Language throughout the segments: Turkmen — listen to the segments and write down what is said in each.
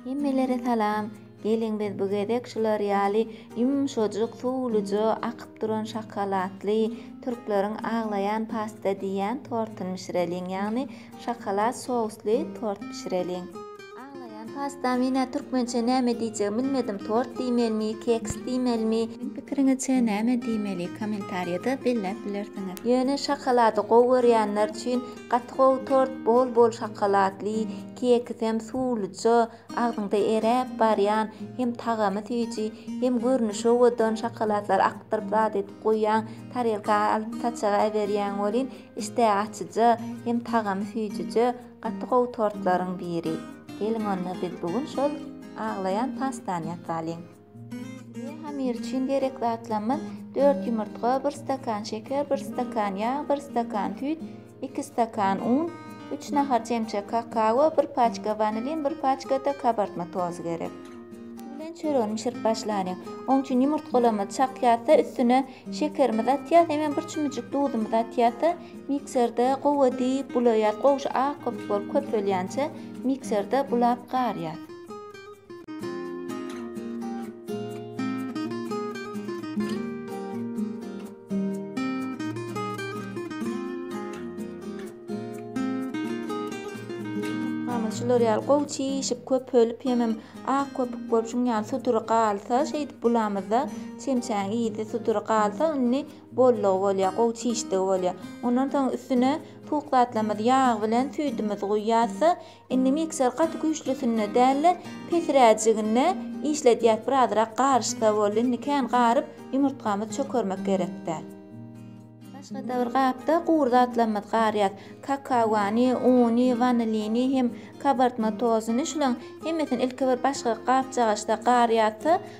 Hemmelere salam. Geliň biz bu gezek şular ýaly ýumşajyk, suwluja akyp duran şokoladly, türkleriň aglaýan pasta diýýän tortuny bişireliň, ýagny şokolad sously tort bişireliň. Aglaýan pasta menä türkmençe näme diýjegimi bilmedim tort diýmelimi, keks diýmelimi? Siziň pikiriňizçe näme diýmeli kommentariýada belläp bilersiňiz. Ýöne şokolady gowy görýänler üçin gaty gowy tort bol bol şokoladly, Kekisem suwluja, agzyňda eräp barýan, hem tagamy süýji, hem görnüşi owadan şokolatlary akdyryp zat edip goýýaň, tarelka alyp saçaga äberýäň welin, işdä açyja, hem tagamy süýjüje, gaty gowy tortlaryň biri. Geliň onda biz bu gün şol aglaýan pastany ýasalyň. Hamyr üçin gerek zatlarymyz, dört ýumurtga, bir stakan şeker, bir stakan ýag, bir stakan süýt, iki stakan un, üç nahar çemçe kakao, bir paçka wanilin, bir paçka-da kabartma tozy gerek. Bilen çöregini bişirip başlalyň. Oň üçin ýumurtgalarymyzy çakýarys-da, üstüne şekerimizi atýarys, hemem bir çümüjik duzumyzy atýarys-da, mikserde gowy edip bulaýarys. Gowşy ak-gyp bolup köpelýänçä mikserde bulap garýarys. şular ýaly gowy çişip köpelip hemem ak köpük bolup şuň ýaly sudury galsa şeýdip bulamyzda çemçäň ýedi sudury galsa indi bollugy bolýar gowy çişdigi bolýar ondan soň üstüne suwuk zatlarymyzy ýag bilen süýdümizi guýýarsa Indi mikser gaty güýçlüsinde dälde pesiräjiginde işledýäs bir azyrak garyşsa boldy indi kän garyp ýumurtgamyz çökermek gerekdäl. Başgada bir gapda gury zatlarymyz garýas kakawany uny wanilini hem kabartma tozuny şulaň hemmesini ilki bir başga gapjagaçda garýasda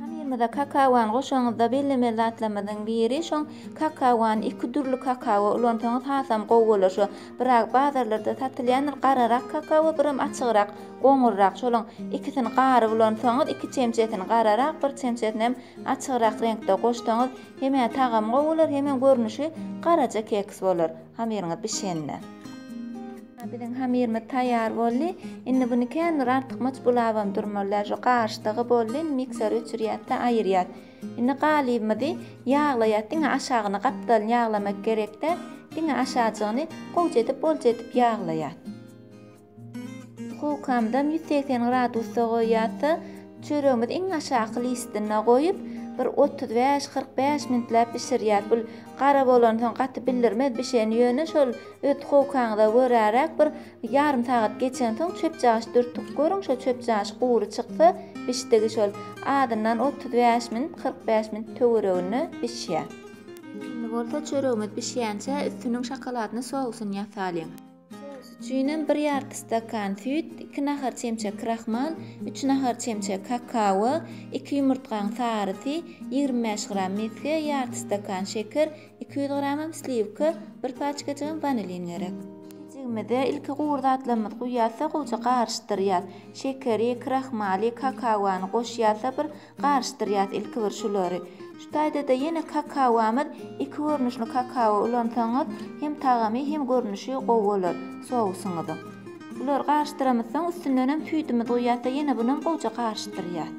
Hamyrymyza kakawany goşanyňyzda bellemeli zatlarymyzyň biri şoň kakawany iki dürli kakawa ulansaňyz hasam gowy bolar şu biraz bazarlarda satylýandyr gararak kakawa biram açygrak goňurrak şolaň ikisini garyp ulansaňyz iki çemçesini gararak bir çemçesini hem açygrak reňkde goşsaňyz hemä tagamy gowy bolar hemem görnüşi garaja keks bolar hamyryňyz bişende. Biziň hamyrymyz taýýar boldy. Indi buny känbir artykmaç bulabam durmalylar. Şu garyşdygy boldy. Indi miksere öçürýäs-de aýyrýas. Indi galybymyzy ýaglaýas. Diňe aşagyny gapdalyny ýaglamak gerek-de, diňe aşajygyny gowja edip, bolja edip ýaglaýas. Dukowkamyzam ýüz segsen gradusda goýýas-da, çöregimizi iň aşaky listinde goýup, bir otuz bäş, kyrk bäş minutläp bişirýäs. Bu gara bolansoň gaty bildirmez bişeni, ýöne şol Öt-howkaňyza göräräk bir ýarym sagat geçensoň çöpjagç dürtüp görüň, şo çöpjagç gury çyksa, bişdigi şol. Azyndan otuz bäş minut, kyrk bäş minut töwereginde bişýär. Indi bolsa çöregimiz bişýänçä üstüniň şokoladyny sowsunýa salyň. Sous üçin hem bir ýarty stakan süýt, iki nahar çemçe krahmal, üç nahar çemçe kakao, iki ýumurtgaň sarysy, ýigrimi bäş gram mesge, ýarty stakan şeker, Iki ýüz gramam sliwka, bir paçkajygam wanilin gerek. Pişijigimize ilki gury zatlarymyzy guýýarys-da, gowja garyşdyrýarys. Şekeri, krahmaly, kakaony goşýarys-da bir garyşdyrýarys ilki bir şulary. Şu taýda-da ýene kakaomyz, iki görnüşli kakao ulansaňyz, hem tagamy, hem görnüşi gowy bolar sousyňyzyň. Bulary garyşdyramyzsoň, üstündenem süýdümizi guýýarys-da, ýene bunam gowja garyşdyrýarys.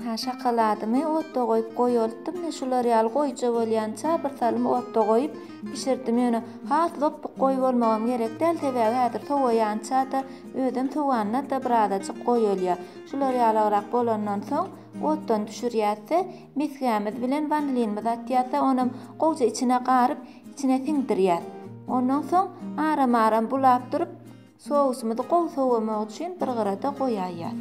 Ynha, şokoladymy otda goýup goýaltdym, ine, şular ýaly goýja bolýança bir salym otda goýup bişirdim. Ýöne has lopbuk goýy bolmagam gerek däl, sebäbi häzir sowaýança-da, özem sowanda-da birazajyk goýulýar. Şular ýalyrak bolandan soň, otdan düşürýäs-de, mesgämiz bilen wanilinimizi atýas-da, onam gowja içine garyp, içine siňdirýäs. Ondan soň aram-aram bulap durup, Sousymyzy gowy sowamak üçin bir gyrada goýaýýas.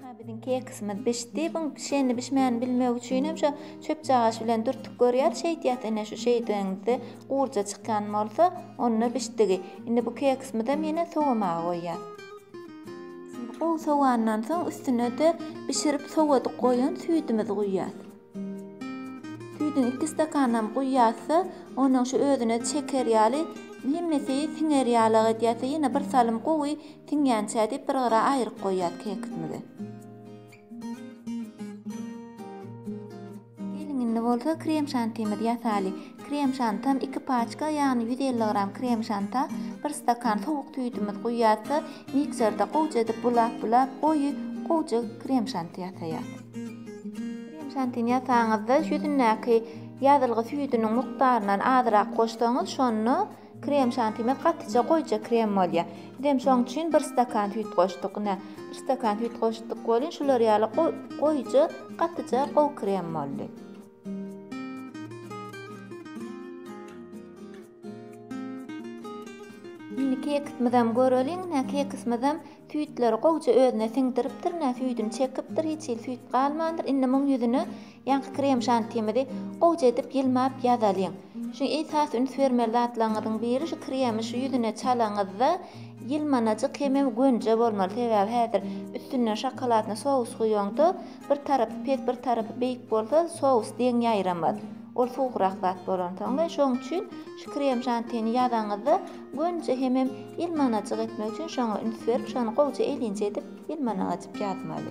Aha biziň keksimiz bişdi. Buň bişenini bişmänini bilmek üçin hem şo çöpjagaş bilen dürtüp görýäs. Şeýdýäs ine şu şeýdeniňizde gurja çykýan bolsa onda bişdigi. Indi bu keksimizem ýene sowamaga goýýas. Gowy sowandan soň üstüne-de bişirip sowadyk goýan süýdimizi guýýas. Süýdüň iki stakanynam guýýarsyda, onuň şu özüne çeker ýaly, hemmesi siňer ýaly-ak edýärse, ýene bir salym gowy siňýänçä diýip, bir gyra aýryp goýýas keksimizi. Geliň, indi bolsa krem-şantimizi ýasaly. Krem-şantam iki paçka, ýagny ýüz elli gram krem-şanta bir stakan sowuk süýdümiz guýýarsyda, mikserde gowja edip bulap-bulap, goýy, gowja krem-şanty ýasaýas. Krem şantini ýasaňyzda ýüzündäki ýazylgy süýdüniň mukdaryndan azyrak goşsaňyz, şonda krem şantimiz gatyja goýja krem bolýar. Bizem şoň üçin bir stakan süýt goşduk. Ine, bir stakan süýt goşduk welin şular ýaly goýja, gatyja gowy krem boldy. Indi kekismizem göreliň. Ine kekismizem süýtleri gowja özüne siňdiripdir. Ine süýdüni çekipdir. Hiç hili süýt galmandyr. Indi muň ýüzüne ýaňky krem şantimizi gowja edip ýylmap ýazalyň. Şu esasy üns bermeli zatlaryňyzyň biri şu kremi şu ýüzüne çalaňyzda ýylmanajyk hemem gönje bolmaly. Sebäbi häzir üstünden şokoladny sous guýaňda Bir tarapy pes, bir tarapy beýik bolsa, sous deň ýaýramaz. Ol suwugrak zat bolansoň we şoň üçin şu krem şantini ýazaňyzda gönüje hemem ýylmanajyk etmek üçin şoňa üns berip, şony gowja elinje edip ýylmanajyk ýazmaly.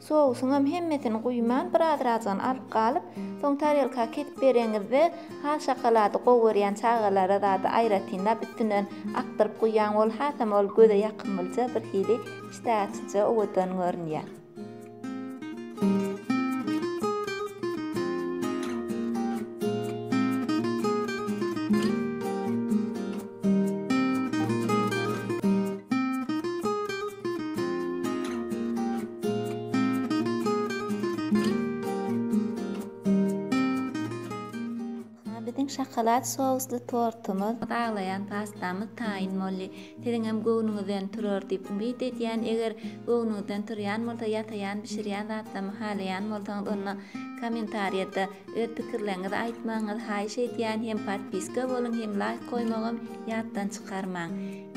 Sousuňam hemmesini guýman, birazrajygyny alyp galyp, soň tarelka kesip bereňizde, ha şokolady gowy görýän çagalara zady aýratynlap üstünden akdyryp guýýaň, ol hasam ol göze ýakymlyja, birhili işdä açyjy, owadan görünýär. Biziň şokolad sously tortumyz, baglaýan pastamyz taýyn boldy. Siziňem göwnüňizden turar diýip umyt edýän. Eger göwnüňizden turýan bolsa, ýasaýan, bişirýän zatlarymy halaýan bolsaňyz, onda kommentariýada. Öz pikirleriňizi aýtmagyňyzy haýyş edýän hem podpiska boluň hem laýk goýmagam ýatdan çykarmaň.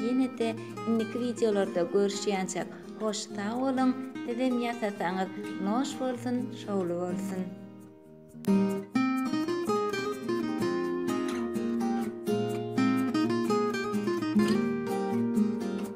Ýenede indiki wideolarda görüşýänçäk hoş sag boluň sizem ýasasaňyz noş bolsun şowly bolsun.